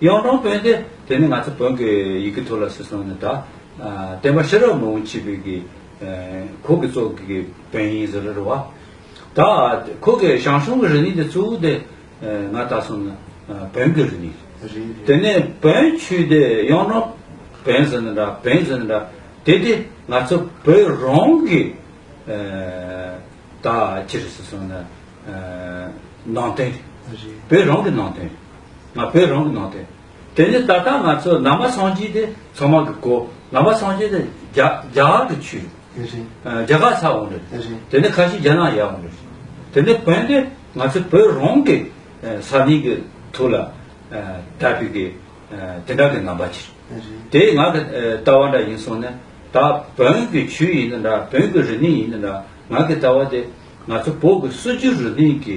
གཡང་སྒྲོན་དཔོན་ཏེ་དེ་ནི་ང་ཚོ་བོན་གྱི་ཡི་གེ་ཐོ་ལ་སི་སོང་ནས་ད། བསྟན་པ་ཤེས་རབ་མང་བོ་འཆི་བས་གི། ཁོ་གི་གཙོ་གི་བོན་ཡིན་ཟེར་རེད་བ། ད། ཁོ་གི་ཞང་ཞུང་གི་རི་ནི་དེ་གཙོ་བོ་དེ། ང་ད་སོང་ནི་བོན་གི་རི་ནི། དེ་ནི་བོན་ཆུས་དེ་གཡང་སྒྲོན་བོན་ཟེར་ནི་འདྲ་བོན་ཟེར་ནི་འདྲ། དེ་དེ་ང་ཚོ་བོད་རང་གི། ད་ཅི་རེད་སི་སོང་ནི། ནང་དོན་རེད། བོད་རང་གི་ནང་དོན་རེད། ང་བོད་རང་གི་ནང་དུ། དེ་ནས་ད་ལྟ་ང་ཚོ་ནང་པ་སངས་རྒྱས་དེ་ཚང་མ་གི་གོ། ནང་པ་སངས་རྒྱས་དེ་རྒྱ་རྒྱ་གར་གི་ཆུས་རེད། དེ་རེད། རྒྱ་གར་ཚ་འོང་རེད། དེ་རེད། དེ་ནས་ཁ་ཤི་རྒྱ་ནག་ཡག་འོང་རེད། དེ་ནས་བོན་དེ་ང་ཚོ་བོད་རང་གི་ས་གནས་གི་ཐུགས་ལ་དད་པའི་གི་དེ་འདྲ་གི་ནང་པ་ཆེ་རེད། དེ་ང་གི་ལྟ་བ་འདྲ་ཡིན་སོང་ནས་ད་བོན་གི་ཆུས་ཡིན་ན་འདྲ་བོན་གི་རི་གནས་ཡིན་ན་འདྲ་ང་གི་ལྟ་བ་དེ་ང་ཚོ་བོད་གི་སྲོལ་རྒྱུན་རི་གནས་གི་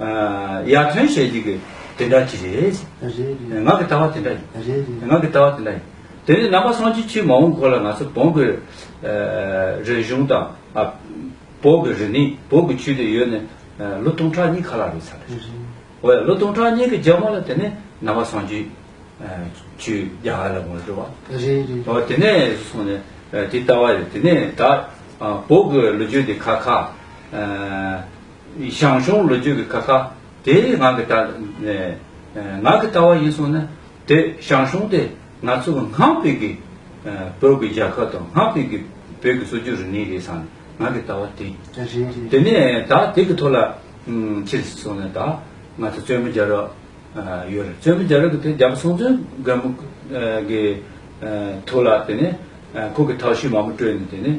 ཡར་ཐོན་བྱས་རྗེས་ཀྱི་དེ་འདྲ་གྱི་རེད། ངག་གི་ལྟ་བ་དེ་འདྲ་ཡིན། ངག་གི་ལྟ་བ་དེ་འདྲ་ཡིན། དེ་ནི་རྣམ་པ་སངས་རྒྱས་ཆེན་མོ་འོང་གོ་ལ་ང་ཚོ་བོང་གི་རིག་གཞུང་དང། བོད་ཀྱི་རིག་གནས་བོད་ཀྱི་ཆོས་དེ་ཡོད་ནི་ལོ་སྟོང་ཕྲག་གཉིས་ཁ་ལ་རེད་ཚར་རེད། འོ་ཡ་ལོ་སྟོང་ཕྲག་གཉིས་ཀྱི་རྗེས་མ་ལ་དེ་ནི་རྣམ་པ་སངས་རྒྱས་ཆོས་རྒྱ་གར་ལ་ངོ་སྤྲོད་པ། འོ་དེ་ནས་སོང་ནས་དེ་ལྟ་བ་རེད་དེ་ནས་ད་བོད་ཀྱི་ལོ་རྒྱུས་འདི་ཁ་ཁ། ཞང་ཞུང་ལོ་རྒྱུས་ཀྱི་ཀ་ཁ་དེ་ངག་གི་ལྟ་ངག་གི་ལྟ་བ་ཡིན་སོང་ན་དེ་ཞང་ཞུང་དེ་ང་ཚོ་ངག་ཕིག་གི་བོད་ཀྱི་རྒྱལ་ཁབ་དང་ངག་ཕིག་གི་བོད་ཀྱི་སྲོལ་རྒྱུན་རིག་གནས་རེད་བསམ་ནས་ངག་གི་ལྟ་བ་དེ་དེ་ནས་ད་དེ་གི་ཐོག་ལ་ཁྱེད་ཀྱི་སོང་ནས་ད་ང་ཚོ་བཙོན་མི་རྒྱ་རོགས་ཡོད་རེད་བཙོན་མི་རྒྱ་རོགས་ཀྱི་དེ་རྒྱ་བོད་སྲོང་བཙོན་སྒམ་པོ་གི་ཐོག་ལ་དེ་ནས་ཁོ་གི་ཐག་གཤིས་མང་པོ་སྤྲོད་ནས་དེ་ནས